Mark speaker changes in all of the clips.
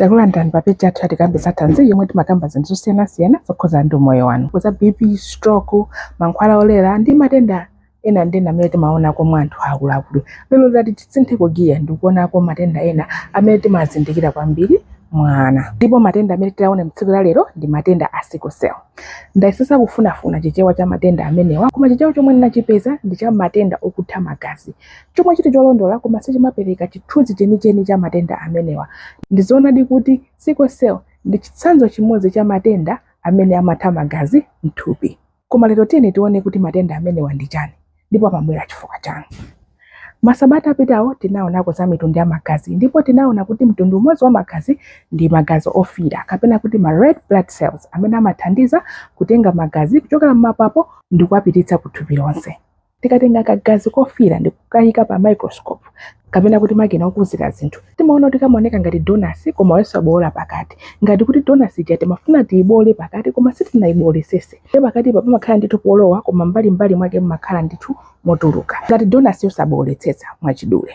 Speaker 1: takulandirani pa peji yathu ya tikambe za thanzi yomwe timakamba zinthu zosiyanasiyana zokhudzana ndi umoyo wanu kuza bp stroke mankhwala olera ndi matenda ena ndi ena amene timaonako mwa anthu akuluakulu lero tati tisintheko giya ndi kuonako matenda ena amene timazindikira kwambiri mwa ana ndipo matenda amene tione mtsiku la lero ndi matenda a sickle cell ndayesesa kufunafuna chichewa cha matenda amenewa koma chichewa chomwe ndinachipeza ndi cha matenda okutha magazi chomwe chili cholondola koma sichimapereka chithunzi chenicheni cha matenda amenewa. Ndi zoonadi kuti sickle cell ndi chitsanzo chimodzi cha matenda amene amatha magazi m'thupi. Koma lero tiyeni tione kuti matenda amenewa ndi chani ndipo amabwera chifukwa chani. Masabata apitawo tinaonako za mitundu ya magazi ndipo tinaona kuti mtundu umodzi wa magazi ndi magazi ofiira kapena kuti ma red blood cells amene amathandiza kutenga magazi kuchokera m'mapapo ndi kuwapititsa ku thupi lonse. Tikatenga kagazi kofiira ndi kukaika pa microscope, kapena kuti makina okuzira zinthu, timaona kuti kamaoneka ngati donasi koma yosabowola pakati. Ngati kuti donasi ija timafuna tiyibowole pakati koma sitinayiboolesese. Ndiye pakatipa pamakhala ndithu polowa koma m'mbalim'mbali mwake mumakhala ndithu motuluka. Ngati donasi yosabowoletsetsa, mwachidule.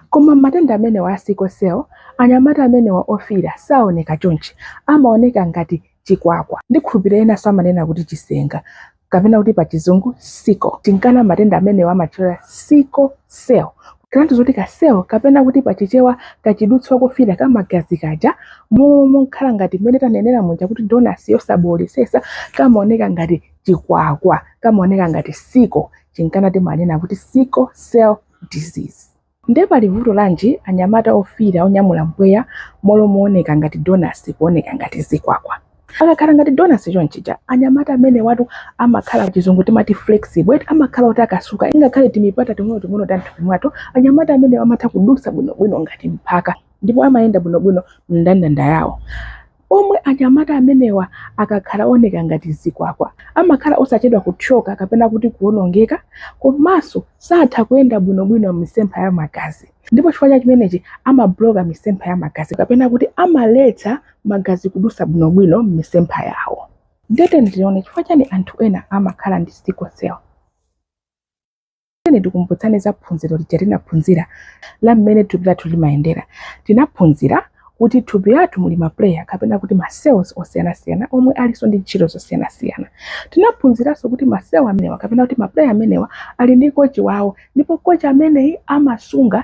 Speaker 1: Koma m'matenda amenewa a sickle cell, anyamata amenewa ofiira saoneka chonchi, amaoneka ngati chikwakwa. Ndikhulupirira enanso amanena kuti chisenga, kapena kuti pa chizungu sickle. Chinkana matenda amenewa amatchedwa sickle cell, kutanthauza zoti ka cell kapena kuti pa Chichewa kachidutswa kofiira ka magazi kaja, m'malo mokhala ngati mmene tanenera muja kuti donasi yosaboolesesa, kamaoneka ngati chikwakwa, kamaoneka ngati sickle, chinkana timanena kuti sickle cell. disease. Nde pali vuto lanji anyamata ofiira onyamula mpweya m'malo mooneka ngati donasi kuoneka ngati zikwakwa? Akakhala ngati donasi chonchija anyamata amenewatu amakhala pachizungu timati flexible eti amakhala otakasuka ingakhale timipata ting'onoting'ono ta mthupi mwathu anyamata amenewa amatha kudutsa bwinobwino ngati mphaka ndipo amayenda bwinobwino mndandanda yawo. Pomwe anyamata amenewa akakhala ooneka ngati zikwakwa, amakhala osachedwa kuthyoka kapena kuti kuwonongeka komanso satha kuyenda bwinobwino m'misempha ya magazi ndipo chifukwa cha chimenechi amabuloka misempha ya magazi kapena kuti amaletsa magazi kudutsa bwinobwino m'misempha yawo. Ndiye tiyeni tione chifukwa chani anthu ena amakhala ndi sickle cell. Tiyeni tikumbutsane za phunziro lija tinaphunzira la mmene thupi lathu limayendera. Tinaphunzira kuti thupi lathu muli ma player kapena kuti ma cells osiyanasiyana omwe alinso ndi ntchito zosiyanasiyana. Tinaphunziranso kuti ma cell amenewa kapena kuti ma player amenewa ali ndi kochi wawo ndipo kochi ameneyi amasunga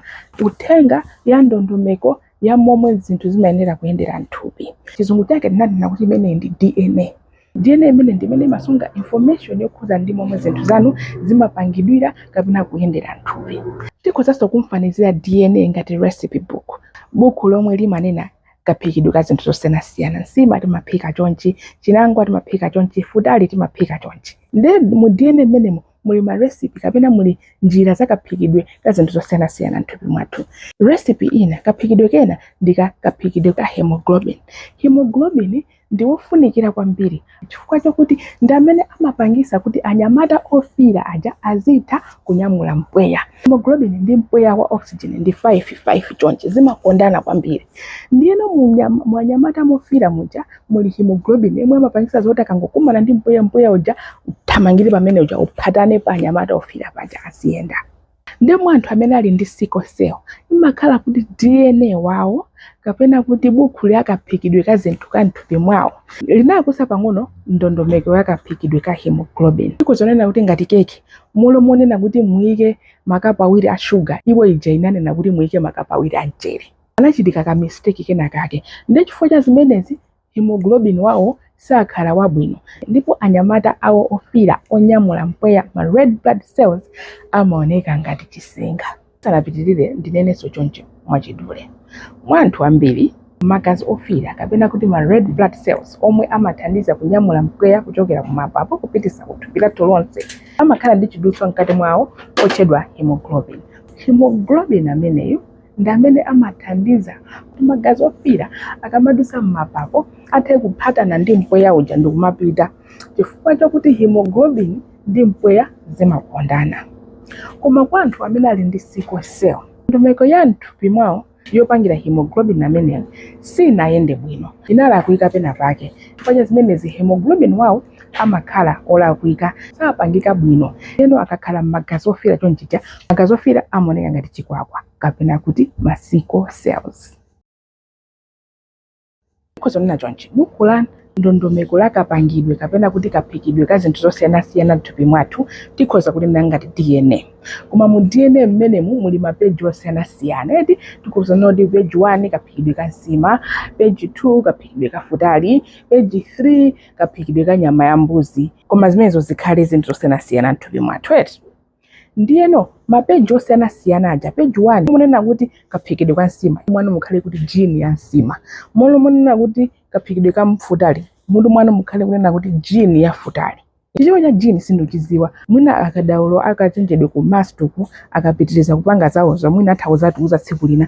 Speaker 1: uthenga ya ndondomeko ya momwe zinthu zimayenera kuyendera mthupi chizungu chake tinanena kuti imeneyi ndi dna dna imeneyi ndi imene imasunga information yokhudza ndi momwe zinthu zanu zimapangidwira kapena kuyendera mthupi tikhozanso kumfanizira dna ngati recipe book buku lomwe limanena kaphikidwe ka zinthu zosiyanasiyana nsima timaphika chonchi chinangwa timaphika chonchi futali timaphika chonchi nde mu dna mmenemo muli ma recipe kapena muli njira za kaphikidwe ka zinthu zosiyanasiyana m'thupi mwathu recipe ina kaphikidwe kena ndi ka kaphikidwe ka hemoglobin hemoglobin ndi wofunikira kwambiri chifukwa chakuti ndi amene amapangisa kuti anyamata ofira aja azitha kunyamula mpweya hemoglobin ndi mpweya wa oxygen ndi 5 5 chonchi zimakondana kwambiri ndiyeno munyama- mu anyamata mofira muja muli hemoglobin yemwe amapangisa zoti akangokumana ndi mpweya mpweya uja uthamangire pamene uja uphatane pa anyamata ofira paja aziyenda ndiye anthu amene ali ndi sickle cell imakhala kuti dna wawo kapena kuti bukhu la kaphikidwe ka zinthu ka mthupi mwawo linalakwitsa pang'ono ndondomeko ya kaphikidwe ka hemoglobin ikhoza kunena kuti ngati keke m'malo monena kuti muyike makapu awiri a shuga iwo ija inanena kuti muyike makapu awiri a mchere panachitika ka mistake kenakake nde chifukwa cha zimenezi hemoglobin wawo sakhala wabwino ndipo anyamata awo ofira onyamula mpweya ma red blood cells amaoneka ngati chisenga tisanapitirire ndinenenso choncho mwachidule mwa anthu ambiri magazi ofira kapena kuti ma red blood cells omwe amathandiza kunyamula mpweya kuchokera kumapapo kupitisa kuthupi lathu lonse amakhala ndi chidutswa mkati mwawo otchedwa hemoglobin hemoglobin ameneyu ndi amene amathandiza kuti magazi ofiira akamadutsa m'mapapo athe kuphatana ndi mpweya uja ndi kumapita chifukwa chakuti hemoglobin ndi mpweya zimakondana koma kwa anthu amene ali ndi sickle cell ndondomeko ya mthupi mwawo yopangira hemoglobin ameneyo sinayende bwino inalakwika pena pake chifukwa cha zimenezi hemoglobin wawo amakhala olakwika, sapangika bwino. Ndeno akakhala mmagazi ofiira chonchija, magazi ofiira amaoneka ngati chikwakwa kapena kuti ma sickle cells. Tikhoza kunena chonchi, buku la ndondomeko la kapangidwe kapena kuti kaphikidwe ka zinthu zosiyanasiyana m'thupi mwathu tikhoza kulinena ngati DNA. Koma mu DNA mmenemu muli mapeji osiyanasiyana eti tikhoza kunena kuti peji 1 kaphikidwe ka nsima, peji 2 kaphikidwe ka futali, peji 3 kaphikidwe ka nyama ya mbuzi koma zimenezo zikhale zinthu zosiyanasiyana mthupi mwathu eti ndiyeno mapeji osiyanasiyana aja peji 1 munena kuti kaphikidwe ka nsima mwina mukhale kuti gene ya nsima m'malo monena kuti kaphikidwe ka futali mutu mwanu mukhale kunena kuti gene ya futali chichewa cha gene sindichidziwa mwina akadaulo akachenjede ku MUST uku akapitiriza kupanga zawozo mwina atha kuzatiuza tsiku lina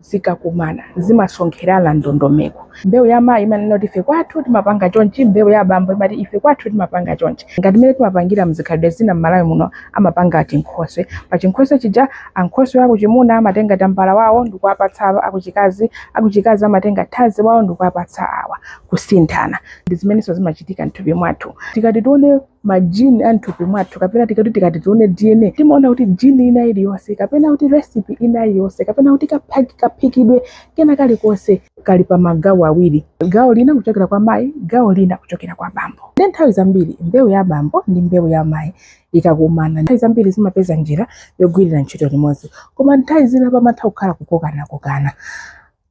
Speaker 1: zikakumana zimasonkherana ndondomeko. Mbewu ya mayi imanena kuti ife kwathu timapanga chonchi, mbewu ya abambo imati ife kwathu timapanga chonchi. Ngati mmene timapangira m'zikhalidwe zina m'Malawi muno amapanga chinkhoswe. Pa chinkhoswe chija ankhoswe akuchimuna amatenga tambala wawo ndikuwapatsa akuchikazi, akuchikazi amatenga thazi wawo ndikuwapatsa awa. Kusinthana. Ndi zimenenso zimachitika m'thupi mwathu. Tikati tione ma gene a mthupi mwathu kapena tikati tikati tione dna timaona kuti gene ina iliyonse kapena kuti recipe ina iliyonse kapena kuti kaphaki- kaphikidwe kena kalikonse kali pa magawo awiri gawo lina kuchokera kwa mayi gawo lina kuchokera kwa bambo ndi nthawi zambiri mbewu ya bambo ndi mbewu ya mayi ikakumana nthawi zambiri zimapeza njira yogwirira ntchito limodzi koma nthawi zina pamatha kukhala kukokanakokana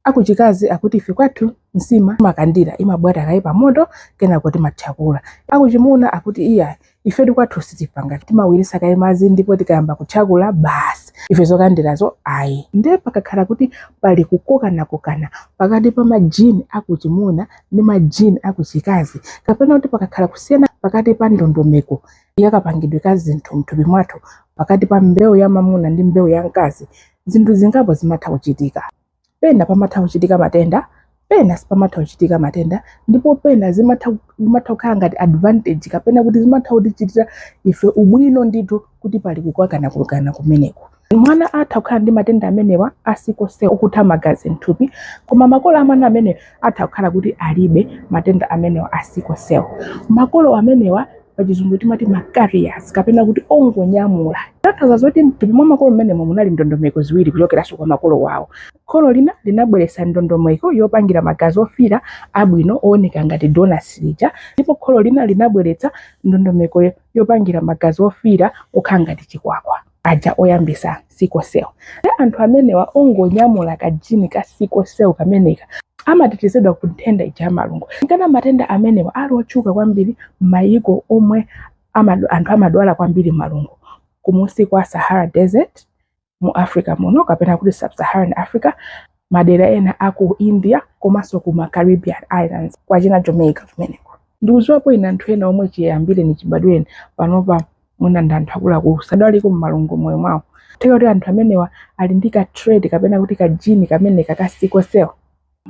Speaker 1: Akuchikazi akuti ife kwathu nsima timakandira imabwata kaye pamoto kenako timathyakula. Akuchimuna akuti iyayi ifetu kwathu sitipanga timawiritsa kaye madzi ndipo tikayamba kuthyakula basi ife zokandirazo ayi. Ndiye pakakhala kuti pali kukokanakokana pakati pa majini akuchimuna ndi majini akuchikazi kapena kuti pakakhala kusiyana pakati pa ndondomeko yakapangidwe ka zinthu mthupi mwathu pakati pa mbewu ya mamuna ndi mbewu ya mkazi, zinthu zingapo zimatha kuchitika. pena pamatha kuchitika matenda pena sipamatha kuchitika matenda ndipo pena zimatha zimatha kukhala ngati advantage kapena kuti zimatha kutichitira ife ubwino ndithu kuti pali kukokanakokana kumeneko mwana atha kukhala ndi matenda amenewa a sickle cell okutha magazi mthupi koma makolo a mwana ameneyo atha kukhala kuti alibe matenda amenewa a sickle cell. Makolo amenewa pachizungu timati ma carriers kapena kuti ongonyamula. Tanthauza zoti mthupi mwa makolo mmenemo munali ndondomeko ziwiri kuchokeranso kwa makolo wawo. Kholo lina linabweretsa ndondomeko yopangira magazi ofiira abwino ooneka ngati donasi lija ndipo kholo lina linabweretsa ndondomeko yopangira magazi ofiira okhala ngati chikwakwa. aja oyambitsa sickle cell ndi anthu amenewa ongonyamula kajini ka sickle cell kameneka amatetezedwa ku nthenda ija ya malungo nkana matenda amenewa ali otchuka kwambiri m'mayiko omwe amadu- anthu amadwala kwambiri malungo kumunsi kwa sahara desert mu africa muno kapena kuti sub-saharan africa madera ena a ku india komanso ku ma caribbean islands kwachina jamaica kumeneko ndikudziwapo ine anthu ena omwe chiyambireni chibadwireni panopa mwina ndi anthu akuluakulu sanadwaleko malungo moyo mwawo kutheka kuti anthu amenewa ali ndi ka trait kapena kuti ka jini kameneka ka sickle cell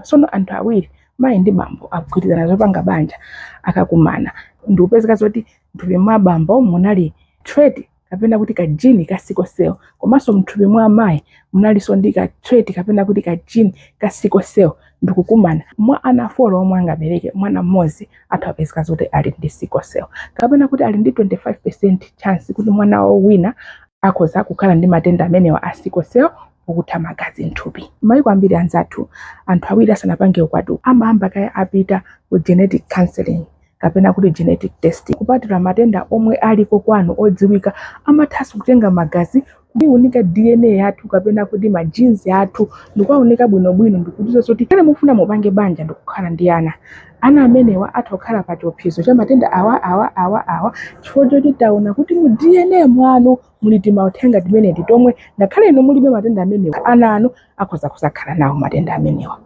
Speaker 1: sono anthu awiri mayi ndi bambo agwirizana zopanga banja akakumana ndikupezeka zoti mthupi mwa bambo munali trait kapena kuti ka jini ka sickle cell komanso mthupi mwa amayi munalinso ndi ka trait kapena kuti ka jini ka sickle cell ndikukumana mwa ana 4 omwe angabereke mwana mmodzi atha apezeka zoti ali ndi sickle cell kapena kuti ali ndi 25% chance kuti mwana wawo wina akhoza kukhala ndi matenda amenewa a sickle cell okutha magazi mthupi mayiko ambiri anzathu anthu awiri asanapange ukwati amayamba kaye apita ku genetic counseling kapena kuti genetic testing kupatula matenda omwe aliko kwanu odziwika amathanso kutenga magazi kuunika dna yathu kapena kuti ma genes athu ndikuwaunika bwinobwino ndikudziwa zoti kaya mufuna mupange banja ndikukhala ndi ana ana amenewa atha kukhala pa chiopsezo cha matenda awa awa awa awa chifukwa choti taona kuti mu dna mwanu muli timauthenga timeneti tomwe ngakhale inu mulibe matenda amenewa ana anu akhoza kuzakhala nawo matenda amenewa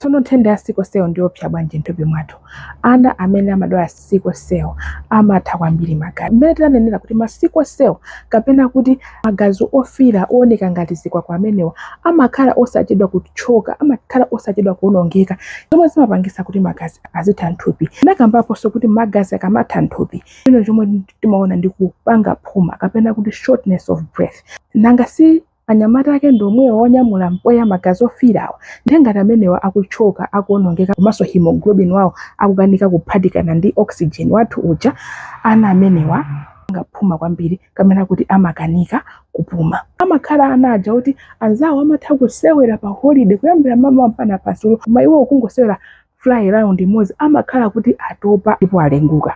Speaker 1: Tsono nthenda ya sickle cell ndi yoopsa bwanji m'thupi mwathu? Ana amene amadwala sickle cell amatha kwambiri magazi. Mmene tinanenera kuti ma sickle cell kapena kuti magazi ofiira ooneka ngati zikwakwa amenewa amakhala osachedwa kutchoka, amakhala osachedwa kuwonongeka, zomwe zimapangitsa kuti magazi azitha m'thupi. Tinakambaponso kuti magazi akamatha m'thupi, china chomwe timaona ndi kupanga phuma kapena kuti shortness of breath. Nanga si anyamata ake ndi omwewo onyamula mpweya magazi ofiirawa ndiye ngati amenewa akutchoka akuonongeka komanso hemoglobin wawo akukanika kuphatikana ndi oxygen wathu uja ana amenewa amapanga phuma kwambiri kapena kuti amakanika kupuma amakhala ana aja kuti anzawo amatha kusewera pa holiday kuyambira mmamawa mpakana madzulo koma iwo kungosewera fly round imodzi amakhala kuti atopa ndipo alenguka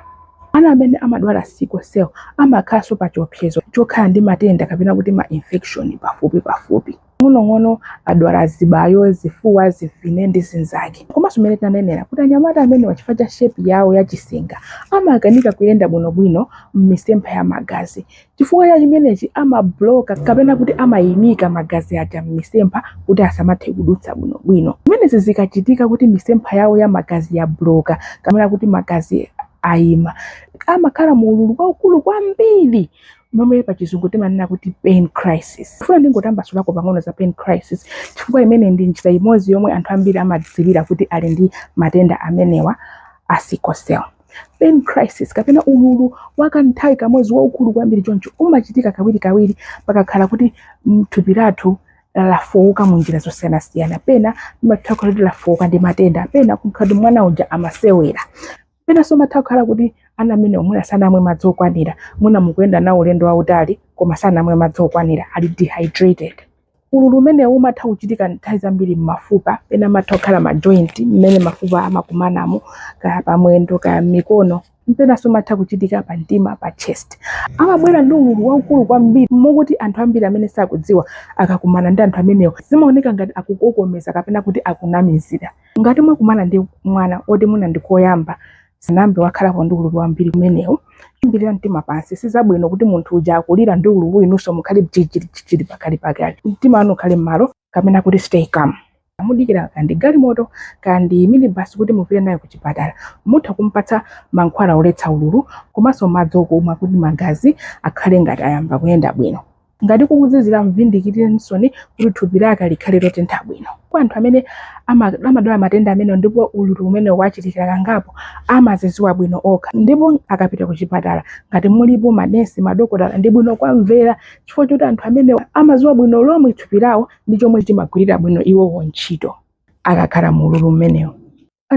Speaker 1: ana amene amadwala sickle cell amakhalanso pa chiopsezo chokhala ndi matenda kapena kuti ma infection pafupi pafupi ng'onong'ono adwala zibayo zifuwa zimfine ndi zinzake komanso mmene tinanenera kuti anyamata amenewa chifukwa cha shepi yawo yachisenga amakanika kuyenda bwinobwino m'misempha ya magazi chifukwa cha chimenechi amabloka kapena kuti amayimika magazi aja m'misempha kuti asamathe kudutsa bwinobwino zimenezi zikachitika kuti misempha yawo ya magazi yabloka kapena kuti magazi ayima amakhala mu ululu waukulu kwambiri momwe pa chizungu timanena kuti pain crisis nfuna ndingotambasulako pang'ono za pain crisis chifukwa imeneyi ndi njira imodzi yomwe anthu ambiri amadziwira kuti ali ndi matenda amenewa a sickle cell pain crisis kapena ululu wakanthawi kamodzi waukulu kwambiri choncho umachitika kawirikawiri pakakhala kuti mm, thupi lathu lafowoka mu njira zosiyanasiyana pena imatha kukhala kuti lafowoka ndi matenda pena kukhala kuti mwana uja amasewera penanso imatha kukhala kuti ana amenewa mwina sanamwe madzi okwanira mwina mukuyenda nawo ulendo wautali koma sanamwe madzi okwanira ali dehydrated Ululu umenewu umatha kuchitika nthawi zambiri m'mafupa, pena amatha kukhala m'ma joint mmene mafupa amakumanamo, kaya pamwendo, kaya m'mikono, penanso umatha kuchitika pa mtima, pa chest. Amabwera ndi ululu waukulu kwambiri mokuti anthu ambiri amene sakudziwa akakumana ndi anthu amenewa zimaoneka ngati akukokomeza kapena kuti akunamizira. Ngati mwakumana ndi mwana woti mwina ndi koyamba, Sanayambe wakhalapo ndi ululu wambiri umenewu. Ikirani mtima pansi. Si zabwino kuti munthu uja akulira ndi ululu inunso mukhale jijirijijiri pakalapakala. Mtima wanu ukhale m'malo kapena kuti stay calm. Pamene mudikira kaya ndi galimoto kaya ndi minibus kuti mupite naye kuchipatala. Mutha kumpatsa mankhwala oletsa ululu komanso madzi okumwa kuti magazi akhale ngati ayamba kuyenda bwino. ngati kukuzizira mfunditseninsoni kuti thupi lake likhale lotentha bwino kwa anthu amene amadwala matenda amenewa ndipo ululu umenewu wachitikira kangapo amaziziwa bwino okha ndipo akapita ku chipatala ngati mulipo manesi madokotala ndi bwino kuwamvera chifukwa choti anthu amenewa amaziwa bwino lomwe thupi lawo ndi chomwe chimagwirira bwino iwowo ntchito akakhala mu ululu umenewo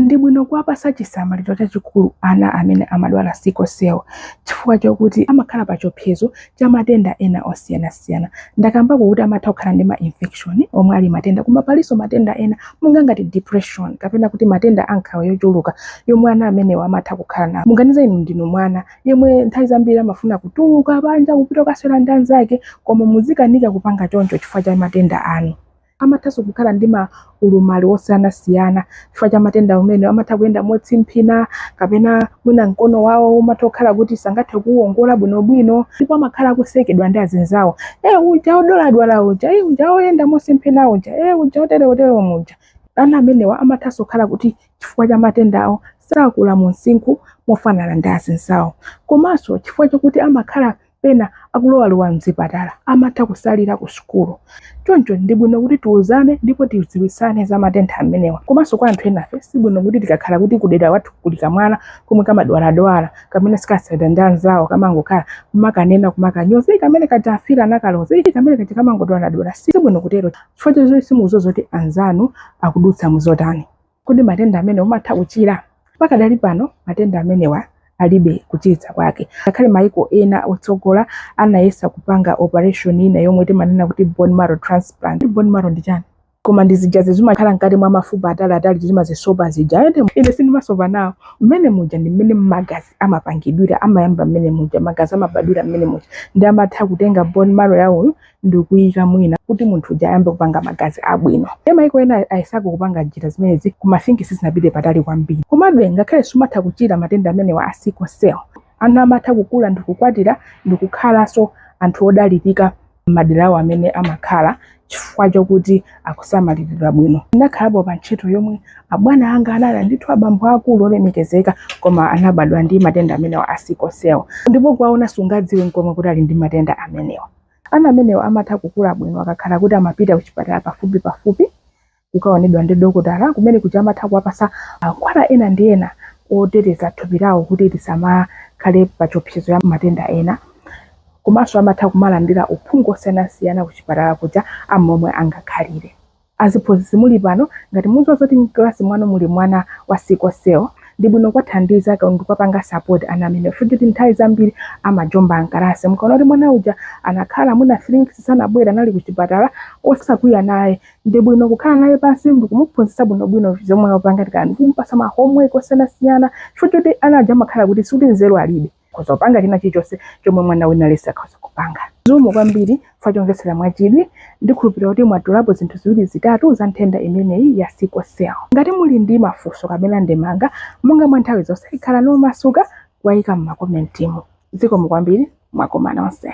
Speaker 1: ndi bwino kuwapasa chisamaliro chachikulu ana amene amadwala sickle cell chifukwa chokuti amakhala pa chiopsezo cha matenda ena osiyanasiyana ndakambako kuti amatha kukhala ndi ma infection omwe ali matenda koma palinso matenda ena monga ngati depression kapena kuti matenda a nkhawa yochuluka yomwe ana amenewa amatha kukhala nawo muganize inu ndinu mwana yemwe nthawi zambiri amafuna kutuluka panja kupita kukasewera ndi anzake koma muzikanika kupanga choncho chifukwa cha matenda anu Amathanso kukhala ndi ma ulumali osiyanasiyana chifukwa cha matenda amenewa. Amatha kuyenda motsimphina kapena mwina mkono wawo umatha kukhala kuti sangathe kuwuwongola bwinobwino ndipo amakhala akusekedwa ndi azinzawo. E, uja wodwaladwala uja, e, uja woyenda mosimphina uja, e, uja woterewotere uja. Ana amenewa amathanso kukhala kuti chifukwa cha matenda awo sakula mu msinkhu mofanana ndi azinzawo. Komanso chifukwa chakuti amakhala pena akulowalowa mzipatala amatha kusalira ku sukulu choncho ndi bwino kuti tiuzane ndipo tidziwitsane za matenda amenewa komanso kwa anthu enafe si bwino kuti tikakhala kuti kudera wathu kuli kamwana komwe kamadwaladwala kamene sikasewera ndi anzawo kamangokhala kumakanena kumakanyoza kamene kaja afiti anakaloza ii kamene kaja kamangodwaladwala si bwino kutero chifukwa choti simukudziwa zoti anzanu akudutsa muzotani Kodi matenda amenewa amatha kuchira? Pakadali pano matenda amenewa alibe kuchiritsika kwake. Ngakhale maiko ena otsogola anayesa kupanga operation ina yomwe timanena kuti bone marrow transplant. Kuti bone marrow ndi chani? Koma ndi zija zimakhala mkati mwa mafupa atali atali timazisopa zija. Ende ine sindimasopa nawo. Mmene muja ndi mmene magazi amapangidwira, amayamba mmene muja, magazi amabadwira mmene muja. Nde amatha kutenga bone marrow ya uyu ndikuyika mwina kuti munthu uja ayambe kupanga magazi abwino e maiko ena ayesako kupanga njira zimenezi koma I think sizinapite patali kwambiri komabe ngakhale sumatha kuchira matenda amenewa a sickle cell ana amatha kukula ndikukwatira ndikukhalanso anthu odalirika m'madera awo amene amakhala chifukwa chokuti akusamaliridwa bwino ndinakhalapo pa ntchito yomwe abwana anga anali ndithu abambo akulu olemekezeka koma anabadwa ndi matenda amenewa a sickle cell ndipo kuwaona sungadziwe nkomwe kuti ali ndi matenda amenewa Ana amenewa amatha kukula bwino akakhala kuti amapita kuchipatala pafupipafupi kukaonedwa ndi dokotala kumene kuja amatha kuwapatsa mankhwala ena ndi ena oteteza thupi lawo kuti lisamakhale pa chiopsezo cha matenda ena. Komanso amatha kumalandira uphungu wosiyanasiyana kuchipatala kuja a momwe angakhalire. Aziphunzitsi muli pano ngati muziwa zoti mkalasi mwanu muli mwana wa sickle cell ndibwino kwathandiza ndi kwapanga support ana amenewa chifukwa choti nthawi zambiri amajomba mkalasi mukaona kuti mwana uja anakhala mwina 3 weeks sanabwere anali kuchipatala osakwiya naye ndibwino kukhala naye pansi ndikumuphunzitsa bwinobwino zomwe wapanga kaya ndikumpasa ma homework osiyanasiyana chifukwa choti ana aja amakhala kuti sikuti nzeru alibe akhoza kupanga china chilichonse chomwe mwana wina aliyense akhoza kupanga zikomo kwambiri chifukwa chomvetsera mwachidwi ndikhulupirira kuti mwatolapo zinthu ziwiri zitatu za nthenda imeneyi ya sickle cell ngati muli ndi mafunso kapena ndemanga monga mwa nthawi zonse khalani omasuka kuwayika m'makomentimu zikomo kwambiri mwakoma nonse